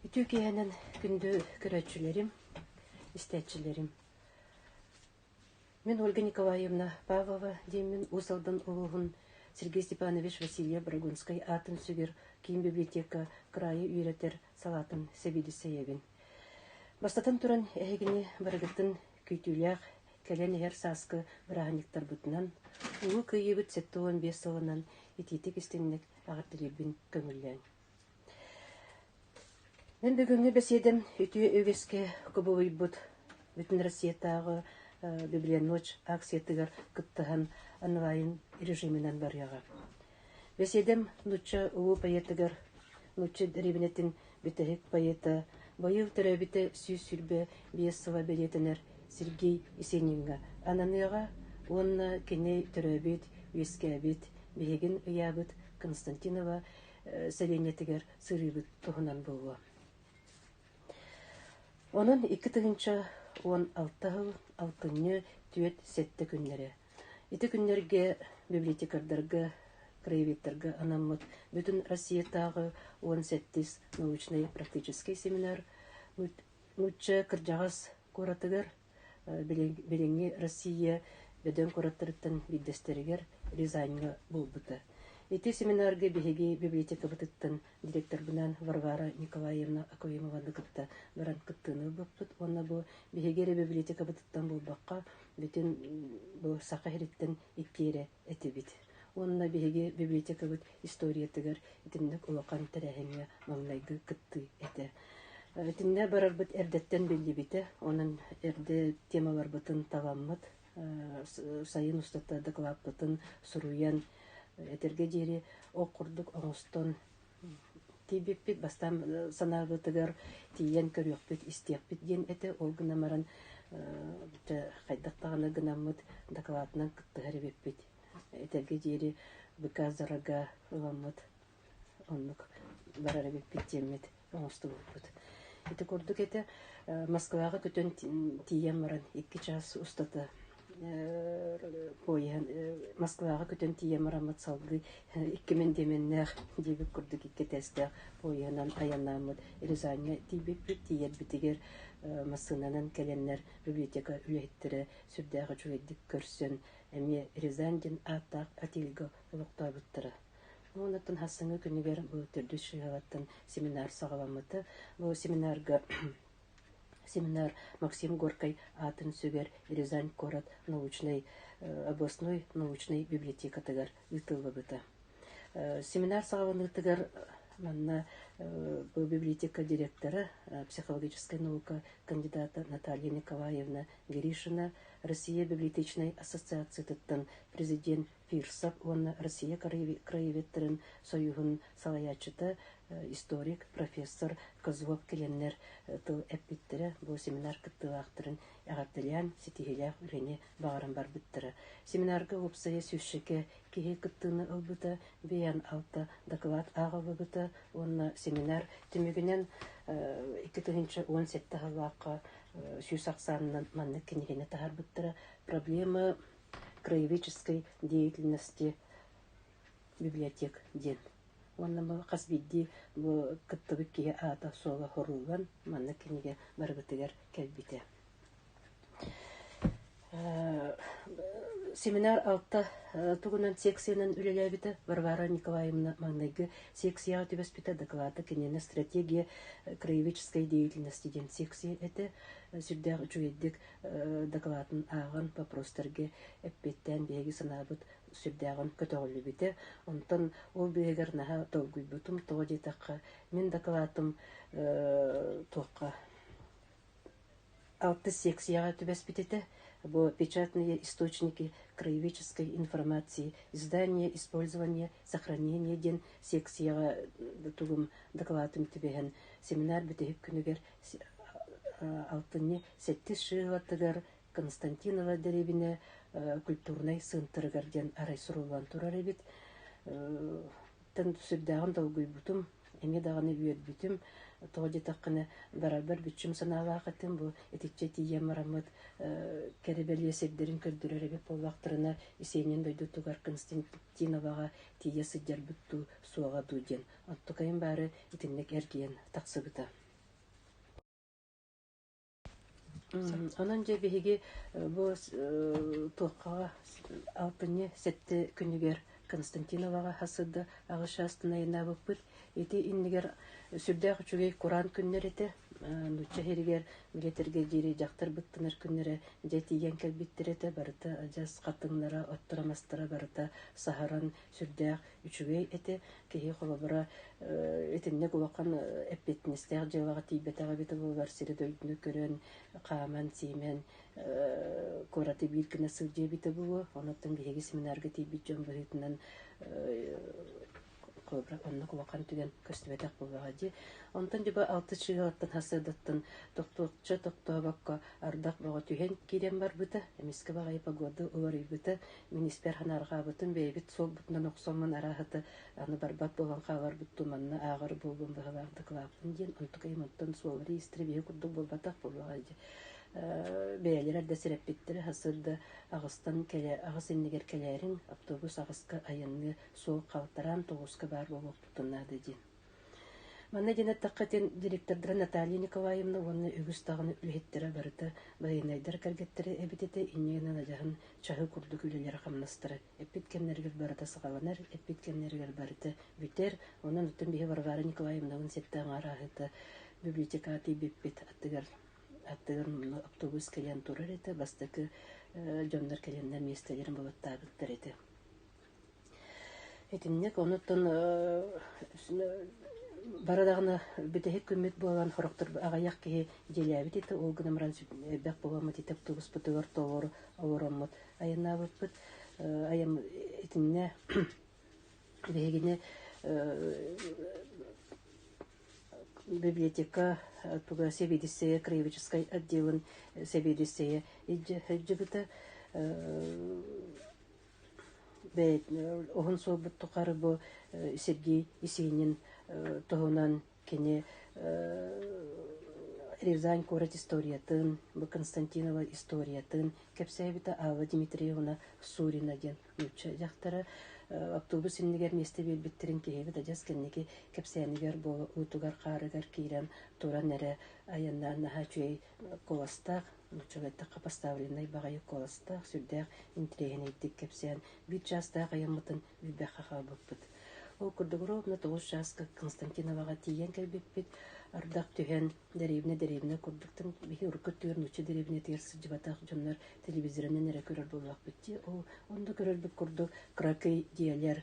Үтүө киэһэнэн күндү көрөөччүлэрим, истээччилэрим. Мин Ольга Николаевна Павлова диэммин Уус Алдан улууһун Сергей Степанович Васильев Брагунскай аатын сүгэр киин библиотека кыраайы үөрэтэр салаатын сэбиэдиссэйэбин. Бастатан туран, эһигини барыгытын күүтүүлээх кэлэн иһэр сааскы бырааһынньыктарбытынан, Улуу Кыайыыбыт сэттэ уон биэс сылынан итиитик-истиҥник Эҕэрдэлиирбин көҥүллээн. Мен бүгүҥҥү бэсиэдэм үтүө үгэскэ кубулуйбут Бүтүн Россиятааҕы Библия ночь акциятыгар кыттыһан онлайн режиминэн барыаҕа. Бэсиэдэм нуучча улуу поэтыгар нуучча дэриэбинэтин бүтэһик поэта, быйыл төрөөбүтэ сүүс сүүрбэ биэс сыла бэлиэтэнэр Сергей Есениҥҥа ананыаҕа уонна кини төрөөбүт, үөскээбит, биһигин ыйаабыт Константинова сэлиэнньэтигэр сырыыбыт туһунан буолуо. Онон икки тыһыынча он алта сыл алтынньы түөрт сэттэ күннэрэ Ити күннэргэ библиотекардарга, краеведтарга анаммыт Бүтүн Россиятааҕы уон сэттис научнай-практическай семинар нуучча кырдьаҕас куоратыгар, билиҥҥи Россия бөдөҥ куораттарыттан биирдэстэригэр Рязаньҥа буолбута. Ити семинарга биһиги библиотекабытыттан директорбынаан Варвара Николаевна Акоимованы кытта баран кыттыыны ылбыппыт уонна бу биһиги эрэ библиотекабытыттан буолбакка, бүтүн бу саха иһиттэн иккиэрэ этибит. Уонна биһиги библиотекабыт историятыгар итинник улахан тэрээһиҥҥэ маҥнайгы кыттыы этэ. Итиннэ барарбыт эрдэттэн биллибитэ, онон эрдэ темаларбытын таламмыт, сайын устата дакылааппытын суруйан, этэргэ диэри ол курдук оҥостон Тиийбиппит бастаан санаабытыгар тиийэн көрүөхпүт, истиэхпит диэн этэ. Ол гынан баран дьэ хайдах даҕаны гынаммыт дакылаатынан кыттыһар эбиппит. Этэргэ диэри быка-зарага ыламмыт. Оннук барар эбиппит диэммит оҥостубуппут. Ити курдук этэ Москваҕа көтөн тиийэн баран икки чаас устата Поеһын Москваҕа көтөн тиийэн бараммыт салгыы икки мэндиэмэннээх диэбит курдук икки этээстээх поеһынан айаннааммыт Рязаньҥа тиийбиппит. Тиийэрбитигэр массыынанан кэлэннэр библиотека үлэһиттэрэ сүрдээх үчүгэйдик көрсөн эмиэ Рязань диэн ааттаах отельгэ олохтообуттара. Онтон хассыҥҥы күнүгэр бу төрдүс школаттан семинар саҕаламмыта. Бу семинарга Семинар Максим Горькай аатын сүгэр Рязань куорат научнай областной научнай библиотекатыгар ыытыллыбыта. Семинар саҕаланыытыгар манна бу библиотека директора, психологическай наука кандидата Наталья Николаевна Гришина Россия библиотечнай ассоциациятыттан президент Пирсап уонна Россия краеведтарын сойууһун салайааччыта, историк, профессор Козлов килиэннэр тыл эппиттэрэ, бу семинар кыттыылаахтарын эҕэрдэлээн, ситиһиилээх үлэни баҕаран барбыттара. Семинарга уопсайа сүүсчэкэ киһи кыттыыны ылбыта, бэйээн алта доклад ааҕыллыбыта уонна семинар түмүгүнэн икки тыһыынча уон сэттэ сыллаахха сүүс ахсаанынан маннык кинигэни таһаарбыттара. Проблема краеведческой деятельности библиотек диэн уонна бу хас биирдии бу кыттыбыт киһи аата-суола уруулан манна кинигэ барыбытыгар кэлбитэ семинар алта тугунан секциянан үлэлээбитэ Варвара Николаевна маҥнайгы секцияҕа түбэспитэ дакылаата кинини стратегия краеведческой деятельности диэн секция этэ сүрдээх үчүгэйдик дакылаатын ааҕан вопростарга эппиттээн биһиги санаабыт сүрдээҕин көтөҕүллүбүтэ онтон ол быыһыгар наһаа долгуйбутум тоҕо диэтэххэ мин дакылаатым туохха алтыс секцияҕа түбэспит этэ бу печатные источники краеведческой информации издание использование сохранение диэн секцияҕа тугум дакылаатым түбэһэн семинар бүтэһик күнүгэр алтынньы сэттис шыылаттыгар Константинова дэриэбинэ культурнай центрыгар диэн арай суруллан турар эбит. сүрдээҕин долгуйбутум, эмиэ даҕаны үөрбүтүм. Тоҕо диэтэххинэ, барарбар бүччүм санаалаах этим. Бу итиччэ тиийэн бараммыт кэрэ-бэлиэ сирдэрин көрдөрөр эбит буоллахтарына, Исиэнньин дойдутугар Константиноваҕа тиийэ сылдьарбыт дуу, суоҕа дуу диэн. Оттукайым баары итинник эргийэн тахсыбыта. Онон дьэ биһиги бу туоххаҕа алтынньы сэттэ күнүгэр Константиноваҕа сылдьа аҕыс чаастынайынаабыппыт. Ити иннигэр сүрдээх үчүгэй кураан күннэр этэ. Нуучча иһэригэр Гитлергэ диэри дьахтар быттанар күннэрэ дьэ тиийэн кэлбиттэр этэ. Барыта адьас хатыҥнара, отторо-мастара барыта саһаран сүрдээх үчүгэй этэ. Киһи холобура итинник улахан эппиэтинэстээх дьыалаҕа тиийбэтэх эбит буолар сири-дойдуну көрөн, хааман-сиимэн куораты биир гына сылдьа эбитэ буолуо. Онуттан биһиги семинарга тиийбит дьон быһыытынан холобура оннук улахан түгэн көстүбэтэх буолаҕа дии. Онтон дьоба алты чыыһаттан хасыадаттан тохтуохча тохтообокко ардах бөҕө түһэн киирэн барбыта, эмискэ баҕайы погода уларыйбыта, Мин испэр анаарҕаабытым, бэйэбит суолбутунан охсоммун арааһыты аны барбат буолан хааларбыт ту манна ааҕар буолуом быһалаах дакылааппын диэн онтук им оттон суоллары истри биһи курдук буолбатах буолуоҕа дьэ бэйэлэрэ да сирэппиттэрэ сырда аҕыстан кэлэ аҕыс иннигэр кэлээриҥ автобус аҕыска айанныы суол халтараан тоҕуска баар буолуохпутун наада дии Манна диэн эттэххэ диэн директордара Наталья Николаевна уонна үгүс даҕаны үлэһиттэрэ барыта байыанайдар кэргэттэрэ эбит этэ иннинэн адьаһын чаһы курдук үлэлэрэ-хамнастара эппит кэмнэригэр барыта саҕаланар, эппит кэмнэригэр барыта бүтэр. Онон оттон биһи Варвара Николаевнабын сетте аҥаарааһыта библиотекатый биппит аттыгар аттыгар автобус кэлэн турар этэ бастакы дьоннор кэлэннэр миэстэлэрин балыктаабыттар этэ. Итинник оннуттан бары даҕаны бүтэһик күммүт буолан сорохтор аҕыйах киһи дьиэлээбит ити ол гынан баран элбэх буоламмыт ити автобуспутугар толору олороммут айаннаабыппыт итиннэ биһигини библиотека сэбиэдиссэйэ краеведческай отделын сэбиэдиссэйэ илдьибитэ Уһун суолбут тухары бу Сергей Есенин туһунан кини Рязань куорат историятын, бу Константинова историятын кэпсээбитэ Аава Дмитриевна Сурина диэн нуучча дьахтара автобус иннигэр миэстэ биэрбиттэрин киһибит адьас кэнники кэпсээнигэр буолуутугар-хаарыгар киирэн туран эрэ айаннаан наһаа үчүгэй куоластаах Нууччаларда хапастаабленнай баҕайы куоластаах, сүрдээх интириэһинэйдик кэпсээн, биир чаастаах айаммытын билбэххэ хаалбыппыт. Ол курдук ровно тоҕус чааска Константиноваҕа тиийэн кэлбиппит, ардах түһэн, дэриэбинэ дэриэбинэ курдук биһи урукку өттүгэр нуучча дэриэбинэтигэр сылдьыбатах дьоннор телевизорынан эрэ көрөр буоллахпыт дии. Ол онно көрөрбүт курдук кракый дьиэлэр,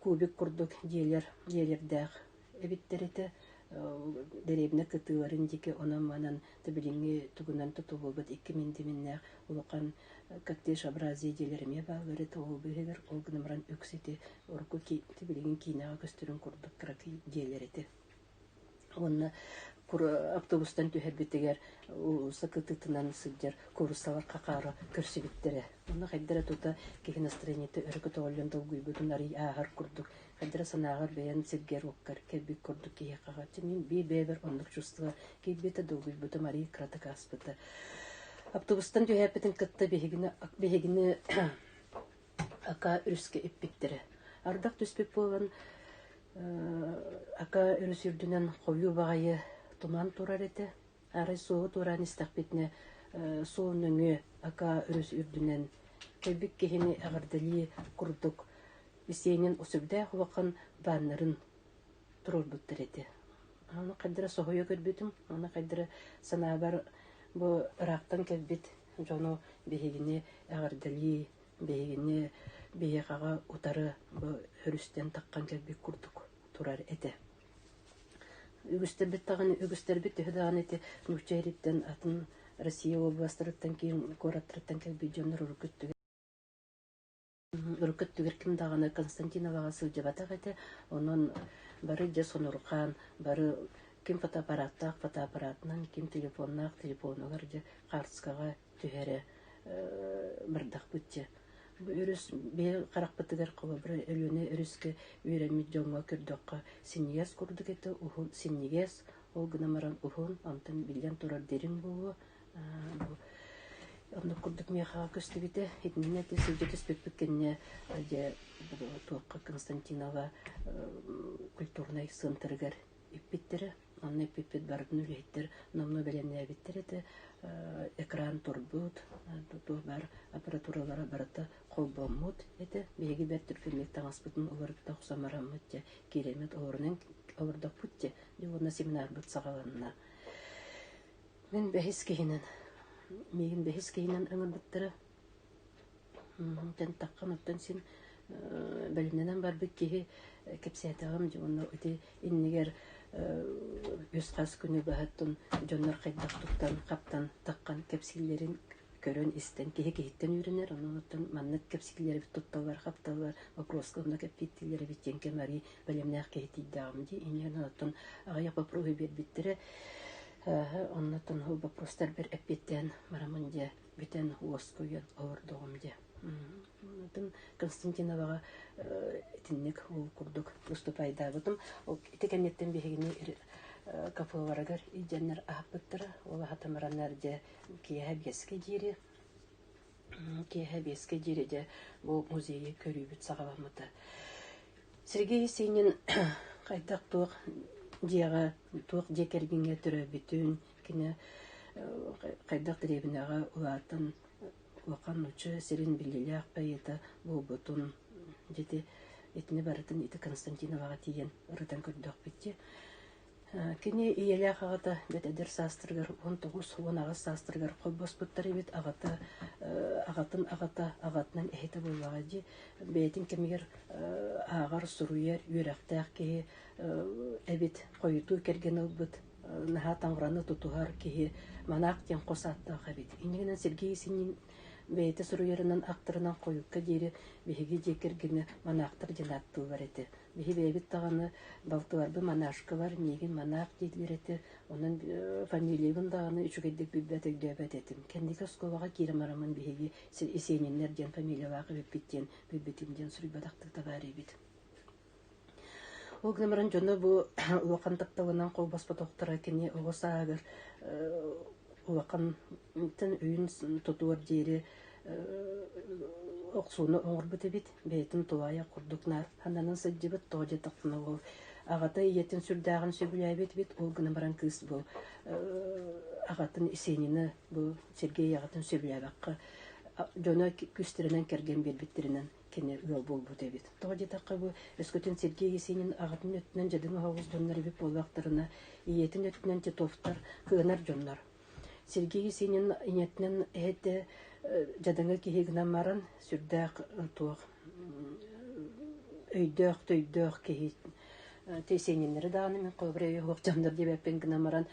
кубик курдук дьиэлэр дьиэлэрдээх эбиттэритэ дэриэбинэ кытыыларын диэки онон-манан билиҥҥи тугунан тутуллубут икки миндиминнээх улахан коттежообразие диэлэр эмиэ бааллары ол быыһыгар ол гынан баран үксити урукку билигин киинэҕэ көстөрүн курдук кыракый диэлэр этэ уонна автобустан түһэрбитигэр сакытытынан сылдьар куруссалар хахаара көрсүбүттэрэ онно хайдара тута киһи настроениета өрө көтөҕүллэн долгуйбутун арый ааһар курдук хайдара санааҕар бэйэҥ сиргэр-уоккар кэлбит курдук киһиэхэ ити мин биир бэйэбэр оннук чувство киирбитэ долгуйбутум арыый кыратык ааспыта автобустан түһээппитин кытта биһигини биһигини ака өрүскэ иппиттэрэ ардах түспүт буолан ака өрүс үрдүнэн хойуу баҕайы туман турар этэ Арай суоһу туораан истэхпитинэ суол нөҥүө ака өрүс үрдүнэн кэлбит киһини эҕэрдэлии курдук Есенин сөбүдээх улахан бааннарын туруорбуттар этэ. Ону хайдара соһуйа көрбүтүм, ону хайдара санаабар бу ыраахтан кэлбит дьону биһигини эҕэрдэлии, биһигини биһиэхэҕэ утары бу өрүстэн таххан кэлбит курдук турар этэ. Үгүстэрбит даҕаны үгүстэрбит төһө даҕаны ити нуучча ириттэн атын Россия областарыттан киин куораттарыттан кэлбит дьоннор урукку өттүгэр урукку өттүгэр ким даҕаны Константиноваҕа сылдьыбатах этэ, онон бары дьэ сонурхаан, бары ким фотоаппараттаах фотоаппаратынан, ким телефоннаах телефонугар дьэ хаартыскаҕа түһэрэ бардахпыт дьэ өрүс бэйэ харахпытыгар холобура Өлүөнэ өрүскэ үөрэммит дьоҥҥо көрдөххө синньигэс курдук этэ уһун синньигэс ол гынан баран уһун онтон биллэн турар дириҥ буолуо бу оннук курдук миэхэҕэ көстүбүтэ итиннэ ити сылдьа түспүппүт кэннэ дьэ туохха Константинова культурнай центрыгар иппиттэрэ Онно эппиппит барытын үлэһиттэр номно бэлэмнээбиттэр этэ. Экран турбут, туох баар аппаратуралара барыта холбоммут этэ. Биһиги бэрт түргэнник таҥаспытын уларыта охсомороммут дьэ, киириммит олорунан олордоппут дьэ, дьуонна семинарбыт саҕаланна. Мин бэһис киһинэн, миигин бэһис киһинэн ыҥырбыттара. Тантаххын оттон син бэлинэнэн барбыт киһи кэпсээтэҕим дьэ онно ити иннигэр үс хас күнү баһыттын дьоннор хайдах туттан хаптан таххан кэпсииллэрин көрөн истэн киһи киһиттэн үөрэнэр онон маннык кэпсииллэр эбит тутталлар хапталлар вопроска онно кэппииттииллэр эбит диэн кэм арыый бэлэмнээх киһи тиийдэҕим дии иннинэн оттон аҕыйах бопуруоһу биэрбиттэрэ оннотон бопростар бэр эппиэттээн барамын дьэ бүтэн уоскуйан олордоҕум дьэ атын Константиноваҕа итинник ол курдук уступайдаабытым ол ити кэнниттэн биһигини КФВРыгар илдьэннэр аһаппыттара ол аһатымыраннар дьэ киэһэ биэскэ диэри киэһэ биэскэ диэри дьэ бу музейы көрүүбүт саҕаламмыта Сергей Есенин хайдах туох дьиэҕэ туох дьиэ кэргэҥҥэ төрөөбүтүн кини хайдах дэриэбинэҕэ улаатан улахан нучча сирин биллиилээх поэта буолбутун дьити итини барытын ити Константиноваҕа тиийэн ырытан көрдөхпүтчэ кини ийэлээх аҕата бэт эдэр саастырыгар он тоҕус уон аҕыс саастырыгар холбоспуттар эбит аҕата аҕатын аҕата аҕатынан эһэтэ буоллаҕа дии бэйэтин кэмигэр ааҕар суруйар үөрэхтээх киһи эбит хойутуу кэргэн ылбыт наһаа таҥараны тутуһар киһи манаах диэн хос ааттаах эбит. Иннигинэн Сергей Синин бэйэтэ суруйарынан, ахтарынан хойукка диэри биһиги дьиэ кэргэнэ манаахтар диэн ааттыыллар этэ. Биһи бэйэбит даҕаны балтыларбын манашкалар, миигин манаах дииллэр этэ. Онон фамилиябын даҕаны үчүгэйдик билбэт өйдөөбөт этим. Кэнники оскуолаҕа киирэн бараммын биһиги Есениннэр диэн фамилиялаах эбиппит диэн билбитим диэн суруйбатахтык да баар эбит. Ол гынан баран дьоно бу улахан тапталынан холбоспотохторо кини оҕо сааһыгар улахантан үйүн тутуор диэри охсууну оҥорбут эбит. Бэйэтин тулаайах курдук нааданан сылдьыбыт, тоҕо диэтэхтэринэ ол аҕата ийэтин сүрдээҕин сөбүлээбит эбит. Ол гынан баран кыыс бу аҕатын Есенины бу Сергей аҕатын сөбүлээбэххэ дьоно күүстэринэн кэргэн биэрбиттэринэн кини ыал буолбут эбит. Тоҕо диэтэххэ бу өскөтүн Сергей Есенин аҕатын өттүнэн дьадыҥ оһоҕу успаннар эбит буоллахтарына, ийэтин өттүнэн Титовтар кыанар дьоннор. Сергей Есенин ийэтинэн эһэтэ дьадаҥы киһи гынан баран сүрдээх туох өйдөөх төйдөөх киһи тесениннери дааны мен холобря оһох жандар дебеппен гынан баран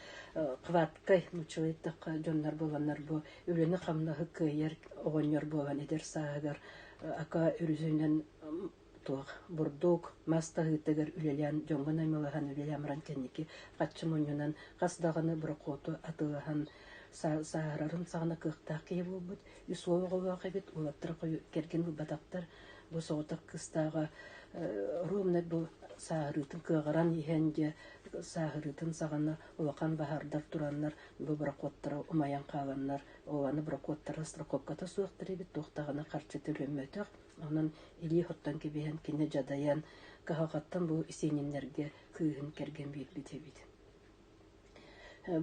кваткай мучу еттахха дьоннор боланнар бу үлэни-хамнаһы кыайар оҕонньор буолан эдэр сааһыгар ака үрүсүнэн туох бурдук мас таһыытыгар үлэлээн дьоҥҥо наймылаһан үлэлээн баран кэнники хаччы мунньунан хас даҕаны брокоту атыылаһан сааһырарын саҕана кыахтаах киһи буолбут үс уол оҕолоох эбит уолаттара кэргэн булбатахтар бу соҕотох кыстааҕа ровно бу сааһырыытын кыаҕыран иһэн дьэ сааһырыытын саҕана улахан баһардар тураннар бу бракуоттара умайан хааланнар оҕаны бракуоттара страховката суохтар эбит туохтаҕына харчыта үлэммөтөх онон илии оттон кэбиһэн кини дьадайан каһалҕаттан бу сиэниннэргэ кыыһын кэргэн биэрбит эбит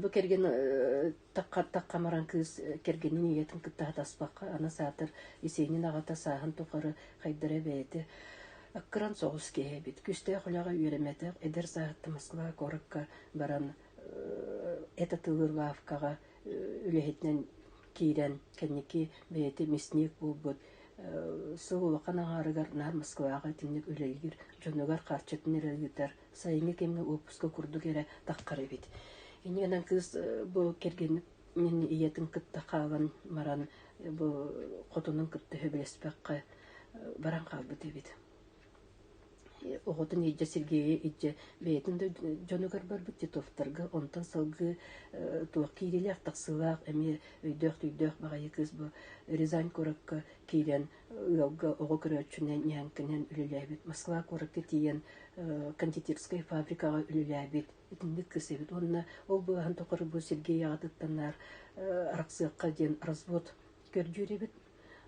бу кэргэн такхамаран кыыс кэргэнин ийэтин кытта хатаспакка аны саатар исиэнин аҕата сааһын тухары хайдара бэйэтэ аккыран соҕус киһи эбит күүстээх үлэҕэ үөрэммэтэх эдэр сааһытта москва куоракка баран эта тылыр лавкаҕа үлэһитинэн киирэн кэнники бэйэтэ мясник буолбут сыл улахан аҥаарыгар наар Москваҕа итинник үлэлиир дьонугар харчытын эрэ ыытар сайыҥҥы кэмҥэ уоппуска курдук эрэ таххар эбит ини гынан кыыс бу кэргэнин ийэтин кытта хаалан баран бу хотунун кытта сөбүлэспэккэ баран хаалбыт эбит оҕотун илдьэ Сергейи илдьэ бэйэтин дойду дьонугар барбыт Титовтарга онтон салгыы туох киириилээх тахсыылаах эмиэ өйдөөх-төйдөөх баҕайы кыыс бу Рязань куоракка киирэн ыалга оҕо көрөөччүнэн ньээҥкэнэн үлэлээбит Москва куоракка тиийэн кондитерскай фабрикаҕа үлэлээбит итинник кыыс эбит уонна ол быыһаан тухары бу Сергей аҕатыттан наар арахсыахха диэн развод көрдүүр эбит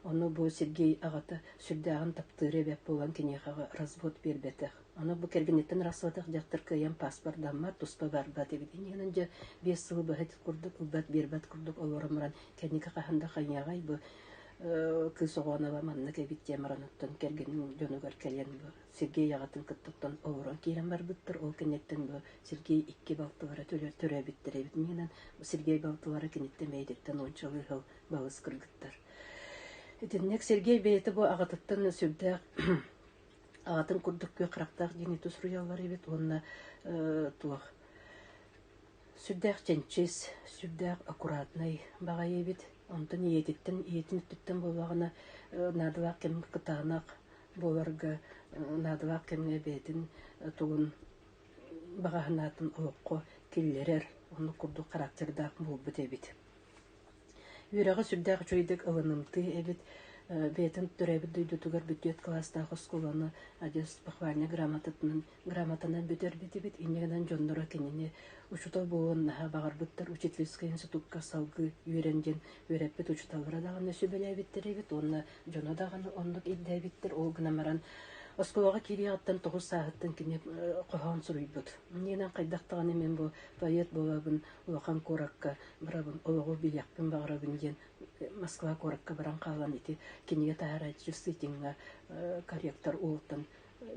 Ону бу Сергей аҕата сүрдээҕин таптыыра эбээт буолан киниэхэҕэ развод биэрбэтэх. Ону бу кэргэниттэн арахсыбатах дьахтар кыайан паспордаммат, туспа барбат эбит. Иннинэн дьэ биэс сылы быһыт курдук ылбат биэрбэт курдук олорон баран кэнники хаһан да хайыаҕай бу кыыс оҕоно маннык эбит диэн баран оттон кэргэнин дьонугар кэлэн бу Сергей аҕатын кытта олорон киирэн барбыттар. Ол кэнниттэн бу Сергей икки балтылара төлө төрөөбүттэр эбит. Миэнэн Сергей балтылара киниттэн бэйэтиттэн уончалыы сыл балыс кыргыттар. Итинник Сергей бэйэтэ бу аҕатыттан сүрдээх аҕатын курдук күөх харахтаах диэни тус суруйаллар эбит уонна туох сүрдээх чэнчис, сүрдээх аккуратнай баҕайы эбит. Онтон ийэтиттэн, ийэтин өттүттэн буоллаҕына наадалаах кэм кытаанах буоларга наадалаах кэмҥэ бэйэтин тугун баҕаһынаатын олоххо киллэрэр, оннук курдук характердаах буолбут эбит. Үөрэҕэ сүрдээх үчүгэйдик ылынымтыы эбит, бэйэтин төрөөбүт дойдутугар бүтүөт кылаастаах оскуоланы адьас похвальнай грамотатынан грамотанан бүтэрбитибит. Инньэ гынан дьонноро кинини учуутал буолуон наһаа баҕарбыттар учительскай институкка салгыы үөрэн диэн үөрэппит учууталлара даҕаны сүбэлээбиттэр эбит уонна дьоно даҕаны оннук ирдээбиттэр. Ол гынан баран оскуолаҕа киириэҕиттэн тоҕус сааһыттан кини хоһоон суруйбут. Инньэ гынан хайдах даҕаны мин бу поэт буолабын улахан куоракка барабын, олоҕу билиэхпин баҕарабын диэн Москва куоракка баран хаалан ити кинигэ таһаарааччы сыытыҥҥа корректор уолтан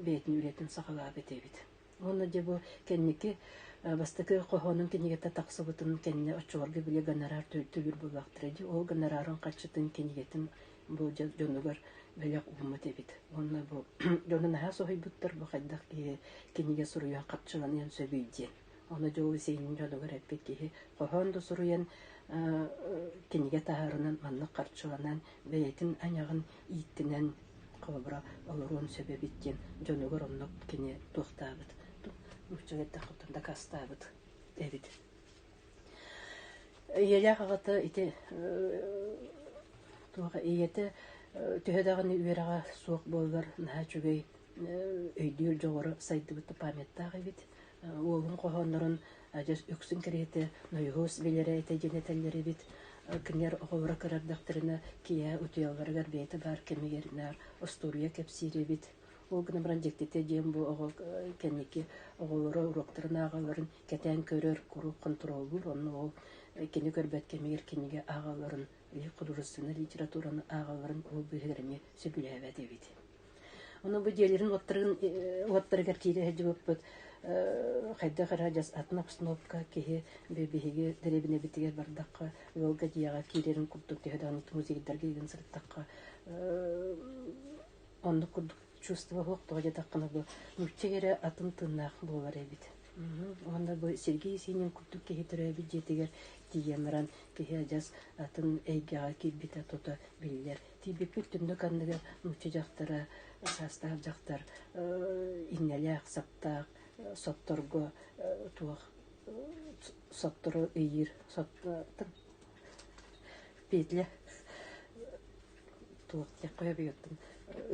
бэйэтин үлэтин саҕалаабыт эбит. Уонна дьэ бу кэнники бастакы хоһоонун кинигэтэ тахсыбытын кэннэ оччолорго били гонорар төлүүр буоллахтара дии ол гонорарын хаччытын кинигэтин бу дьонугар бэлэх ууммут эбит уонна бу дьону наһаа соһуйбуттар бу хайдах киһи кинигэ суруйан хапчыланыан сөбүй диэн Ону дьыл сиэнин дьонугар эппит киһи хоһоон да суруйан кинигэ таһаарынан маннык харчыланан бэйэтин айаҕын ииттинэн холобура олоруон сөп эбит диэн дьонугар оннук кини туохтаабыт нуучча эрдэх отон дакастаабыт эбит ийэлээх аҕата ити туоха ийэтэ төһө даҕаны үөрэҕэ суох буоллар наһаа үчүгэй өйдүүр дьоҕура сайдыбыт памяттаах эбит уолун хоһооннорун адьас үксүн кэриэтэ нойуһус билэрэ этэ диэн этэллэр эбит кинилэр оҕолоро көрөрдөхтөрүнэ киэһэ утуйалларыгар бэйэтэ баар кэмигэр наар остуоруйа кэпсиир эбит ол гынан баран дьиктитэ диэн бу оҕо кэнники оҕолоро уруоктарын ааҕаларын кэтээн көрөр куруук хонтуруоллуур онно ол кини көрбөт кэмигэр кинигэ ааҕалларын художественнай литератураны ааҕалларын ол быыһыгар эмиэ сөбүлээбэт эбит Ону бу диэлэрин уоттарыгар киирэ сылдьыбыппыт хайдах эрэ дьас атын обстановка киһи биһиги дэриэбинэбитигэр бардахха ыалга дьиэҕэ киирэрин курдук төһө даҕаны музейдарга игин сырыттахха оннук курдук чувство суох тоҕо дьатаххына бу нуучча эрэ атын тыыннаах буолар эбит уонна бу Сергей Синин курдук киһи төрөөбүт дьиэтигэр тиийэн баран киһи адьас атын эйгэҕэ киирбитэ тута биллэр Тиийбиппит түннүк анныгар нуучча дьахтара, саастаах дьахтар иҥнэлээх-саптаах сотторго туох соттору ыйыыр соттың петля туох диэх хойобуйуттан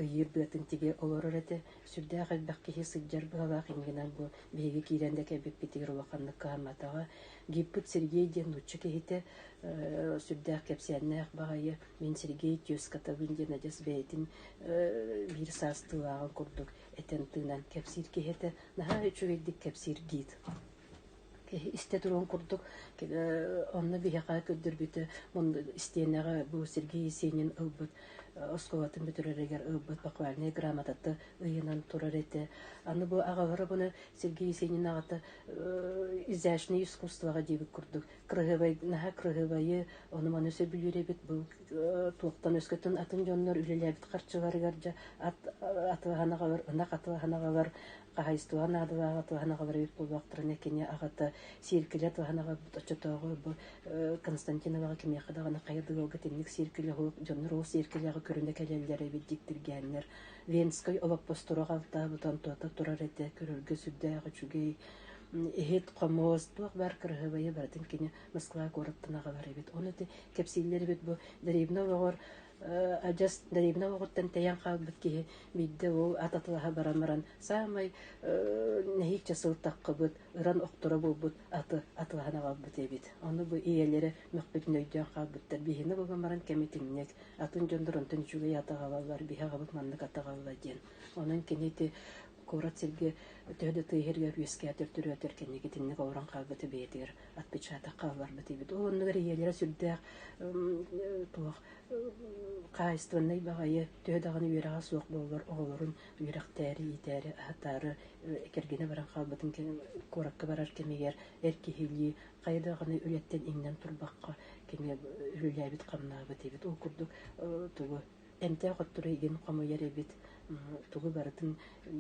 ыйыыр быатын тигэ олорор этэ сүрдээх элбэх киһи сылдьар быһалаах инигинэн бу биһиги киирэн да кэлбиппитигэр улаханнык кыһамматаҕа гиппыт сергей диэн нуучча киһитэ сүрдээх кэпсээннээх баҕайы Мин Сергей Тюскатабын диэн адьас бэйэтин биир саастыылааҕын курдук этэн-тыынан кэпсиир киһи этэ. Наһаа үчүгэйдик кэпсиир гид. Киһи истэ туруон курдук онно биһиэхэ көрдөрбүтэ мунду истиэнэҕэ бу Сергей Есенин ылбыт оскуолатын бүтүрэригэр ылбыт бахвальнай грамотата ыйынан турар этэ. Аны бу аҕалара буна Сергей Есенин аҕата изящное искусствоҕа диэбит курдук кыраһыабай наһаа кыраһыабайы ону-маны сөбүлүүр эбит бу туохтан өскөтүн атын дьоннор үлэлээбит харчыларыгар дьэ ат атыылаһанаҕалар ынах атыылаһанаҕалар хаһаайыстыба наадалаах атыылаһанаҕалар эбит буолуохтарына кини аҕата сиэркилэ атыылаһанаҕа оччотооҕу бу Константиноваҕа кимиэхэ даҕаны хайа да ыалга итинник сиэркилэ уһук дьоннор ол сиэркилэҕэ көрүнэ кэлэллэр эбит диктиргээннэр Венскэй олоппостору алтаабыт Антота турар этэ көрөргө сүрдээх үчүгэй иһит-хомуос, туох баар кыраһыабайы барытын кини Москва куораттан аҕалар эбит. Ол ити кэпсииллэр эбит бу дэриэбинэ олоҕор адьас дэриэбинэ олоҕуттан тэйэн хаалбыт киһи биирдэ ол ат атылаһа баран баран саамай нэһииччэ сылтаххыбыт ыран охторо буолбут аты атылаһан аҕалбыт эбит. Ону бу ийэлэрэ мөхпүтүн өйдөөн хаалбыттар. Биһиэнэ булан баран кэмитинньик атын дьон доронтон үчүгэй аты аҕалаллар, биһи аҕабыт маннык аты аҕалла диэн. Онон кини ити куорат сиргэ төһө да тыаһыырга үөскээтэр төрөөтөр кэнники итинник олорон хаалбыты бэйэтигэр отпечаток хаалларбыт диэбит ол оннугар ийэлэрэ сүрдээх туох хаайыстыбаннай баҕайы төһө даҕаны үөрэҕэ суох буоллар оҕолорун үөрэхтээри иитээри аһатаары кэргэнэ баран хаалбытын куоракка барар кэмигэр эр киһилии хайа даҕаны үлэттэн иҥнэн турбакка кини үлэлээбит хамнаабыт диэбит ол курдук тугу эмтээх оттору игин хомуйар эбит тугу барытын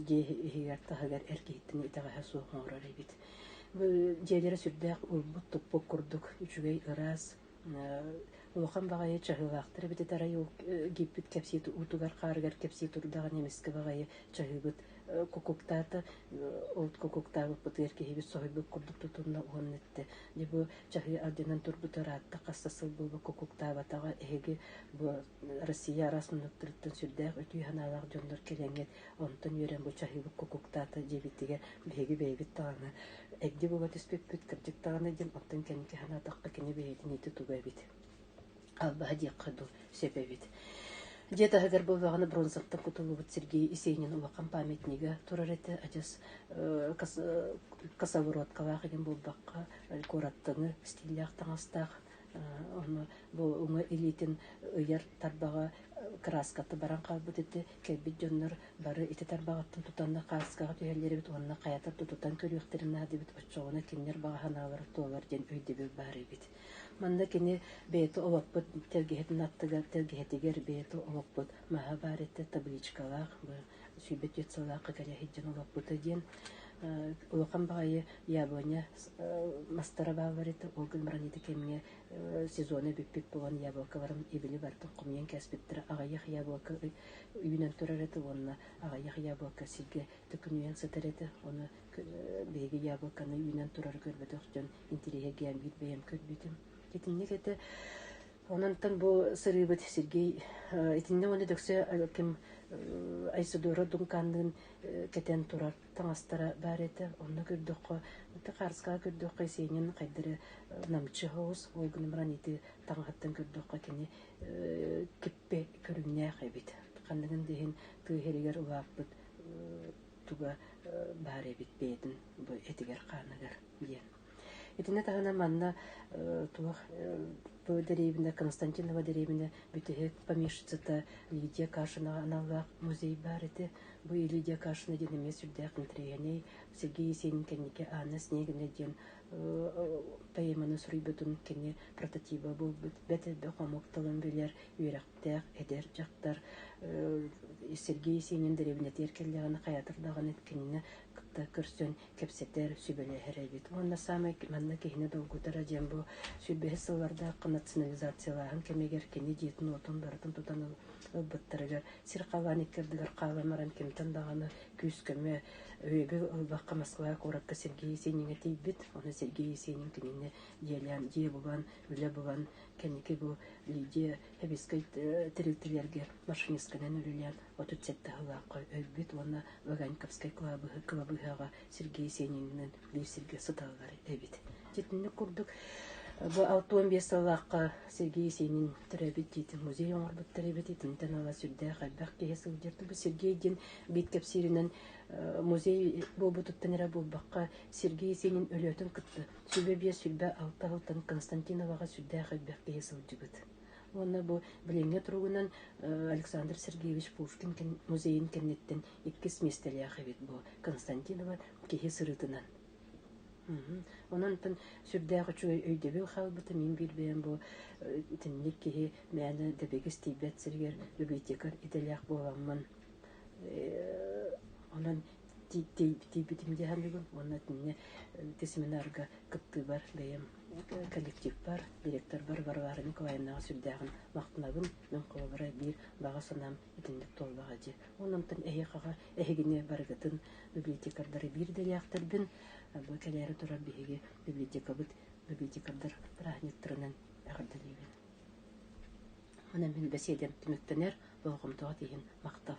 дьиэ иһигэр-таһыгар эр киһиттэн итэҕэһэ суох оҥорор эбит дьиэлэрэ сүрдээх ылбыт-туппут курдук үчүгэй ыраас улахан баҕайы чаһыылаахтар эбитит арай ол гиппит кэпсии уутугар-хаарыгар кэпсии турдаҕын эмискэ баҕайы чаһыыбыт кукуктаата ол кукуктаабыппытыгар киһибит соһуйбут курдук тутунна уонна эттэ Бу чаһыы ардынан турбута ыраатта хаста сыл буолбакка куктаабатаҕа. Эһиги бу Россия араас муннуктарыттан сүрдээх үтүө санаалаах дьоннор кэлэҥҥит. Онтон үөрэн бу чаһыыбыт кукуктаата диэбиттигэ биһиги бэйэбит даҕаны эгди буга түспүппүт, кырдьык даҕаны диэн оттон кэмки санаатахха кини бэйэтин ити туга эбит Аллаһа диэххэ дуу, сөбөбүт. Дьиэ таһыгар буолбаҕына бронзаттан кутуллубут Сергей Исейнин улахан памятнига турар этэ. Адьас косовороткалаах игин буолбакка куораттаны стиллээх таҥастаах ону бу уҥа илиитин ыйар тарбаҕа краската баран хаалбыт ити кэлбит дьоннор бары ити тарбаҕаттан тутанна кааскаҕа түһэллэрибит уонна хайатар тутутан көрүөхтэрин наадыбыт оччоҕуна кинилэр баҕа санаалара туолар диэн өйдөбүл баар эбит Манна кини бэйэтэ олоппут тэлгэһэтин аттыгар, тэлгэһэтигэр бэйэтэ олоппут маһа баар этэ, табличкалаах, свидетельстволаахха кэлэ сылдьан олоппута диэн улахан баҕайы яблоня мастара бааллар этэ. Ол гын баран ити кэмҥэ сезона бүппүт буолан яблокаларын ибили бартын хомуйан кэспиттэрэ аҕыйах яблока үүнэн турар этэ уонна аҕыйах яблока сиргэ төкүнүйэн сытар этэ. Ону биһиги яблоканы үүнэн турары көрбөтөх дьон интириэһиргээн биир бэйэм көрбүтүм. Итинник этэ Ононтон бу сырыыбыт Сергей итиннэ уонна дөксө ким Айсудора Думканныын кэтэн турар таҥастара баар этэ. Онно көрдөххө, Харыскаҕа көрдөххө сенин хайдары намчы хоус, ойгуну баран ити таҥаһаттан көрдөххө кини киппе көрүҥнээх эбит. Ханныгын диһин тыыһеригэр улааппыт туга баар эбит бэйэтин бу этигэр-хааныгар диэн. Итиннэ таһына манна туох бу дэриэбинэ Константинова дэриэбинэ бүтэһик помещицата Лидия Кашинаҕа аналлаах музей баар ити. Бу Лидия Кашина диэн эмиэ сүрдээх интэриэһинэй Сергей Есенин кэнники Анна Снегина диэн поэманы суруйбутун кини прототиба буолбут бэт элбэх омук тылын билэр үөрэх эдэрдээх эдэр дьахтар Сергей Есенин дэриэбинэтигэр кэллэҕинэ хайатыр даҕаны кинини кытта көрсөн кэпсэтэр, сүбэлэһэр эбит. Уонна саамай манна киһини долгутара диэн бу сүүрбэһис сыллардаахха национализациялааһын кэмигэр кини дьиэтин-уотун барытын тутан ылбыттарыгар сир-халаан икки ардыгар хаалан баран кимтэн даҕаны күүскөмө, өйөбүл ылбакка Москва куоракка Сергей Есениҥҥэ тиийбит. Ону Сергей Есенин кинини дьиэлээн, дьиэ булан, үлэ булан, Кэнники бу Лидия Хабискай тэрилтэлэргэ машинистканан үлэлээн отут сэттэ сыллаахха өлбүт уонна Ваганьковскай кылабыһы кылабыыһаҕа Сергей Сенининэн биир сиргэ сыталлар эбит. Дьитинник курдук бу алта уон биэс сыллаахха Сергей Сенин төрөөбүт дьиэтин музей оҥорбуттар эбит. Итинтэн ала сүрдээх элбэх киһи сылдьар. Бу Сергей диэн биит кэпсииринэн музей буолбутуттан эрэ буолбакка Сергей Сенин өлөөтүн кытта Сүлэ биэс сүүрбэ алта алтан Константиноваҕа сүрдээх элбэх киһи сылдьыбыт. Уонна бу билиҥҥи туругунан Александр Сергеевич Пушкин музейын кэнниттэн иккис миэстэлээх эбит бу Константинова киһи сырыытынан. Онон онтон сүрдээх үчүгэй өйдөбүл хаалбыта мин билбэм бу итинник киһи мээнэ дэбигис тиийбэт сиригэр библиотека идэлээх буоламмын онон тиийбитим дии аһыныгын уонна инньэ ити семинарга кыттыыбар бэйэм коллективпар директорбар Варвара Николаевнаҕа сүрдээҕин махтанабын мин холобура биир баҕа санаам итинник туолбаҕа дии ол амтан эһиэхэҕэ эһигини барыгытын библиотекардары биир идэлээхтэрбин бу кэлээри туран биһиги библиотекабыт библиотекардар праздниктарынан эҕэрдэлиибин онон мин бэсиэдэм түмүктэнэр болҕомтоҕут иһин махтал